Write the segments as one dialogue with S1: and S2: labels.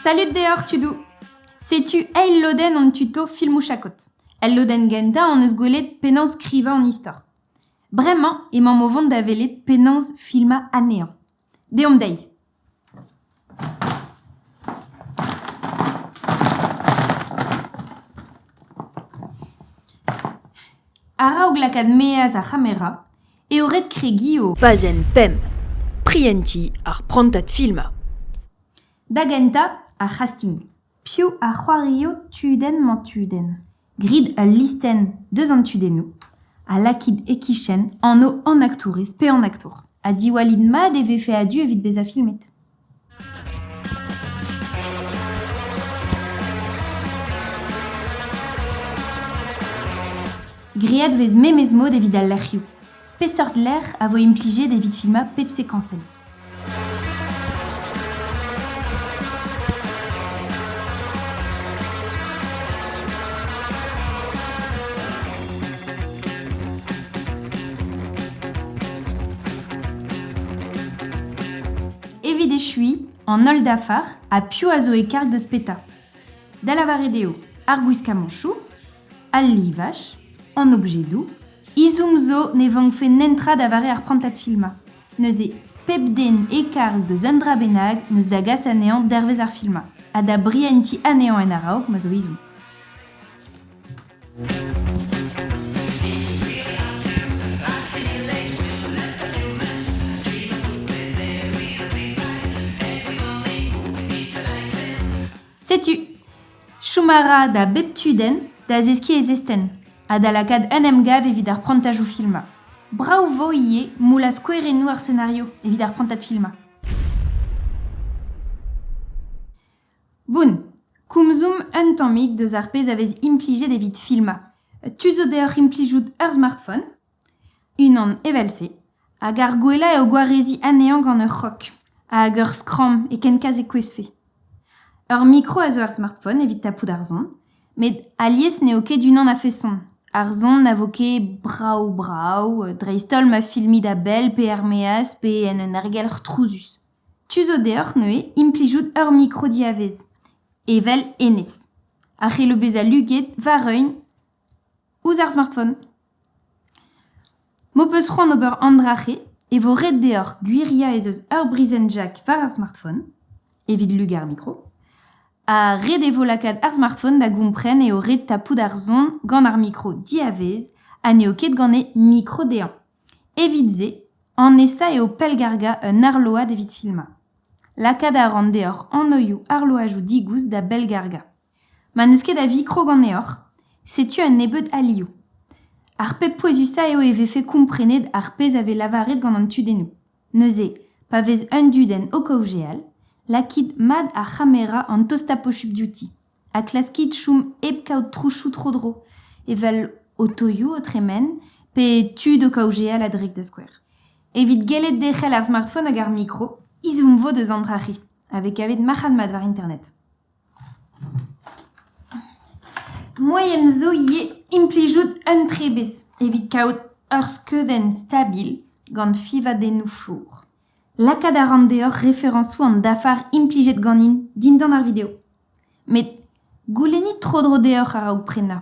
S1: Salud deoc'h tudou Setu eil lodenn hon tuto filmoù chakot. El lodenn gentañ hon eus gwelet penaos skrivañ an istor. Bremañ emaomp o vont da welet penaos filmañ anezhañ. Deomp dezhi A-raok lakaat maez ar c'hamera eo ret kregiñ o pazenn pemp
S2: prientiñ ar prantad filmañ.
S1: Da gentañ, ar c'hasting. Piv a c'hoario tudenn-mañ-tudenn ? Grit ul listenn deus an tudennoù ha lakit e-kichen anv an aktourez pe an aktour ha diwallit mat e vefe a-du evit bezañ filmet. Graet 'vez memes mod evit al lec'hioù. Peseurt lec'h a vo implijet evit filmañ pep sekañsenn ? Evit echuiñ, an holl dafar ha piv a zo e karg deus petra. Da lavaret eo ar gwiskamanchoù, al livaj, an objedoù. Izoum zo ne vankfe netra da vare ar prantad filmañ. Neuze, pep den e-karg eus un dra bennak 'neus da gas anezhañ dervezh ar filmañ ha da brientiñ anezhañ en a-raok ma zo ezhomm. Setu Chom a ra da bep tudenn da zeskiñ e zestenn ha da lakaat un emgav evit ar prantajoù filmañ. Brav 'vo ivez moull ha skouerennoù ar senario evit ar prantad filmañ. Boun, komzomp un tammig deus ar pezh a vez implijet evit filmañ. Tu zo deoc'h implijout ur smartphone Unan evel-se hag ar gwellañ eo gwareziñ anezhañ gant ur c'hrog hag ur skramm e kenkaz e kouezhfe. Ur mikro a zo er smartphone evit tapout ar son met alies n'eo ket unan a-feson. Ar son na vo ket brav-brav dreist-holl ma filmit a-bell pe er-maez pe en un ergelc'h trouzus. Tu zo deoc'h neuze implijout ur mikro diavez, evel hennezh, a c'hello bezañ luget war un... ouzh ar smartphone. M'ho peus c'hoant ober an dra-se e vo ret deoc'h gwiriañ ez eus ur brizhenn jack war ar smartphone evit lugañ ar mikro. Ha ret e vo lakaat ar smartphone da gompren eo ret tapout ar son gant ar mikro diavez ha n'eo ket gant e mikro dezhañ. Evit-se, an nesañ eo pellgargañ un arload evit filmañ. Lakaat a ran deoc'h anoioù arloajoù digoust da bellgargañ. Ma n'eus ket a vikro ganeoc'h, setu un nebeud alioù. Ar pep pouezusañ eo e vefe komprenet ar pezh a vez lavaret gant an tudennoù. Neuze, pa vez un dudenn o kaozeal, lakit mat ar c'hamera an tostañ pochupl diouti ha klaskit chom hep kaout trousoù tro-dro, evel otoioù o tremen pe tud o kaozeal a-drek da skouer. Evit gellet derc'hel ar smartphone hag ar mikro, izum vo deus an dra-c'hi, a vez kavet marc'had-mat war Internet. Moaien zo ivez implijout un trebez evit kaout ur skeudenn stabil gant fiñvadennoù flour. Lakaat a ran deoc'h referañsoù an dafar implijet ganin dindan ar video. Met goulennit tro-dro deoc'h a-raok prenañ.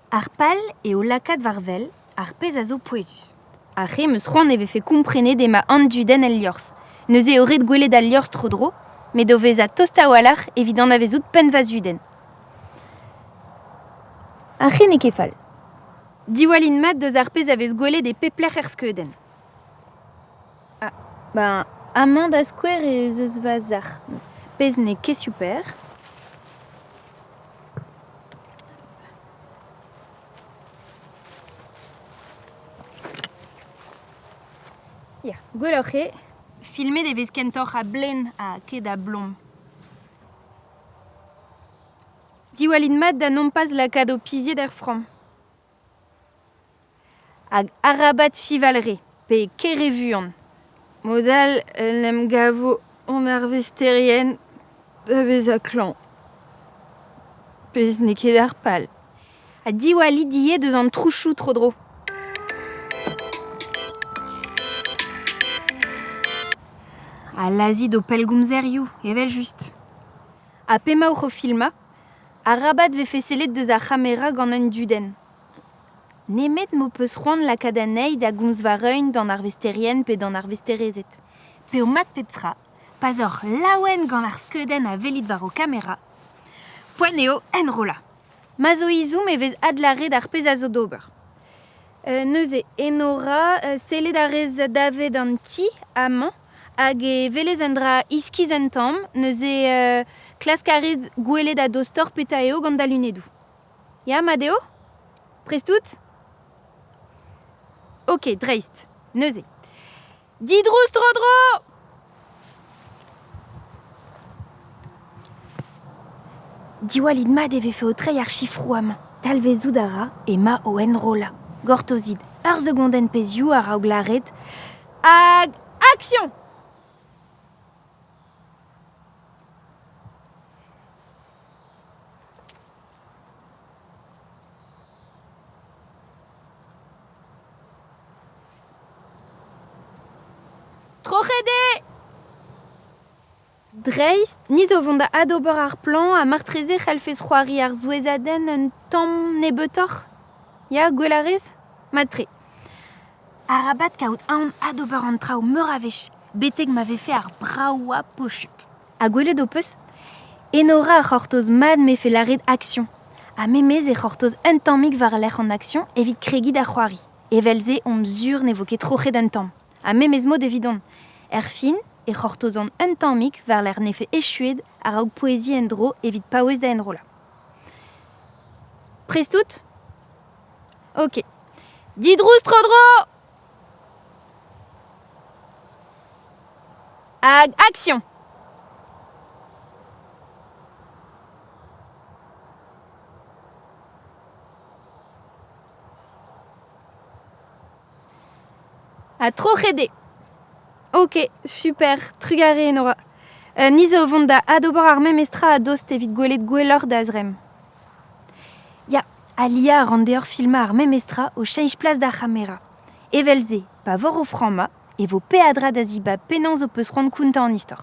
S1: Ar pal eo lakaat war wel ar pezh a zo pouezus. Ar re 'm eus c'hoant e vefe komprenet emañ an dudenn el liorzh. Neuze eo ret gwelet al liorzh tro-dro, met o vezañ tost a-walc'h evit anavezout pennva-zudenn. Ar c'hi n'eo ket fall. Diwallin mat deus ar pezh a vez gwelet e pep lec'h er skeudenn. Ba amañ da skouer ez eus va zac'h, pezh n'eo ket super. Ya, gwelloc'h eo. Filmet e vez kentoc'h a-blên ha ket a-blom. Diwallit mat da nompas lakaat ho pizied er framm. Hag arabat fivalre pe kere vuan. Mod all en em gavo hon arvesterien da vezañ klañv. Pezh n'eo ket ar pal. Ha diwallit ivez deus an trousoù tro-dro. Ha lazhit ho pellgomzerioù, evel-just. Ha p'emaoc'h o filmañ, arabat vefe sellet deus ar c'hamera gant un dudenn. Nemet m'ho peus c'hoant lakaat anezhi da gomz va reun d'an arvesterien pe d'an arvesterezed. Pedomp-mat pep tra. Pa 'z oc'h laouen gant ar skeudenn a welit war ho kamera, poent eo enrollañ. Ma zo izhomm e vez adlâret ar pezh a zo d'ober. neuze Enora, sellet a rez davet an ti amañ hag e welez un dra iskis un tamm, neuze klask a rez gwelet a-dostoc'h petra eo gant da lunedoù. Ya, mat eo? Prest out? Ok, dreist, neuze. Didrouz tro-dro! Diwallit mat e vefe o treiñ ar chifrouam. Talvezout a ra ema o enrollañ. Gortozit ur segondenn pezhioù a-raok lâret hag action! Troc'het eo! Dreist, ni zo vont da adober ar plañv ha martreze c'hellfes c'hoari ar souezhadenn un tamm nebeutoc'h. Ya, gwell a rez ? Mat-tre. Arabat kaout aon adober an traoù meur a wech betek ma vefe ar bravañ pochuk. Ha gwelet ho peus? Enora a c'hortoz mat m'efe lâret action. Ha memes e c'hortoz un tammig war-lerc'h an action evit kregiñ da c'hoari. Evel-se omp sur ne vo ket troc'het an tamm. Ha memes mod evidon. Erfin e c'hortozan un tammig war-lerc'h n'efe echuet a-raok poueziñ en-dro evit paouez da enrollañ. Prest out? Ok. Didrouz tro-dro Hag action Ha troc'het Ok, super, trugarez Nora. Uh, ni zo vont da adober ar memes tra a-dost evit gwelet gwelloc'h da zremm. Ya, Alia a ran deoc'h filmañ ar memestra o cheñch plas d'ar c'hamera. Evel-se, pa voc'h o frammañ, e vo peadra da zibab penaos ho peus c'hoant kontañ an istor.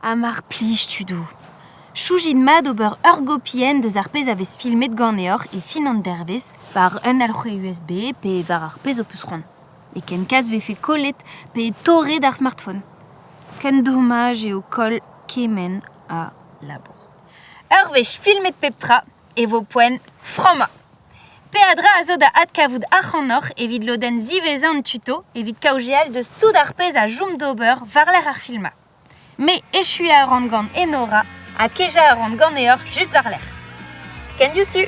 S1: Ha mar plij tudoù. Choujit mat ober ur gopi en deus ar pezh a vez filmet ganeoc'h e fin an dervezh war un alc'hwez USB pe war ar pezh ho peus c'hoant. E ken kas 'vefe kollet pe torret ar smartphone. Ken dommaj eo koll kement a labour. Ur wech filmet pep tra, e vo poent frammañ. Peadra a zo da adkavout ac'hanoc'h evit lodenn ziwezhañ an tuto evit kaozeal deus tout ar pezh a chom d'ober war-lerc'h ar filmañ. Me echuañ a ran gant Enora ha kejañ a ran ganeoc'h just war-lerc'h. Can you see?